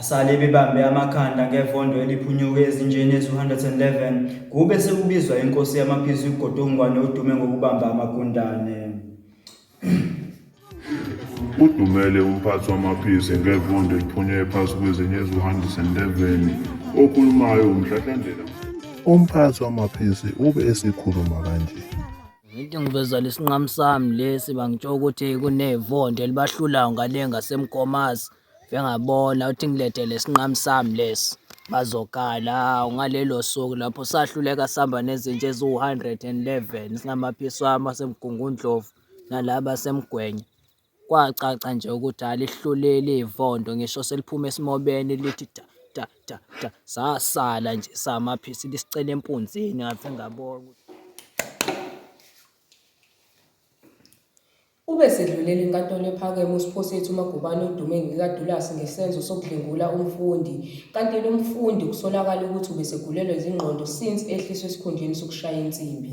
Basale bebambe amakhanda ngevondo eliphunyuke ezinjeni ezu-111 kube sekubizwa inkosi yamaphizi uGodongwane odume ngokubamba amagundane. Udumele umphathi wamaphizi ngevondo eliphunyuke phansi kwezinye ezu-111 okhulumayo uMhlahlandlela. Umphathi wamaphizi ube esekhuluma kanje. Into engivezela isinqamu sami lesi bangitsho ukuthi kunevonde elibahlulayo ngale ngasemgomazi bengabona uthi ngilethe lesinqamu sami lesi bazokala ngalelo suku lapho sahluleka sihamba nezinja eziwu-111 singamaphiswami asemgungundlovu nalaba asemgwenya Kwacaca nje ukuthi alihluleli ivonto ngisho seliphuma esimobeni lithi da da da da. Sasala nje samaphisi lisicela empunzini ngaze ngabona ukuthi. Ube sedlulela iNkantolo ePhakeme uSiphosethu Magubane odume ngekaDulasi ngesenzo sokudlwengula umfundi, kanti lo mfundi kusolakala ukuthi ubesegulelwa izingqondo since ehliswa esikhundleni sokushaya insimbi.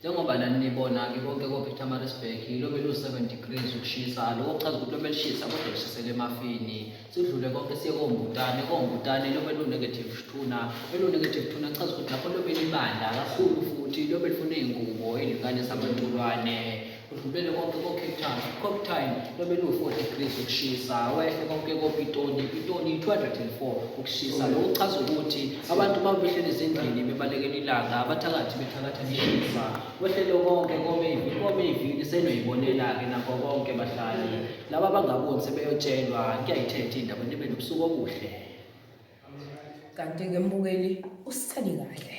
njengoba nani nibona-ke konke kophetamarisburg yilo belu-seven degrees ukushisa loko kuchaza ukuthi obelishisa kodwa lishisele emafini sidlule konke siye kombutane kombutane lobe lu-negative tuna elu-negative tuna kuchaza ukuthi lapho lobe libanda kakhulu futhi lobe lifuna iy'ngubo iy'lingane sabantulwane Udlubele konke ko-Cape Town, Cape Town lobeluwu-4 degrees ukushisa, wehle konke koPitoli, Pitoli 204 ukushisa. Lokhu kuchaza ukuthi abantu uma behleli ezindlini bebalekela ilanga, abathakathi bethakatha lishisa. Wehlele konke koMevi, koMevi lisenoyibonela-ke nakho konke bahlali. Laba abangaboni sebeyotshelwa, kuyayithetha indaba nibe nobusuku obuhle. Kanti-ke mbukeli usithandi kahle.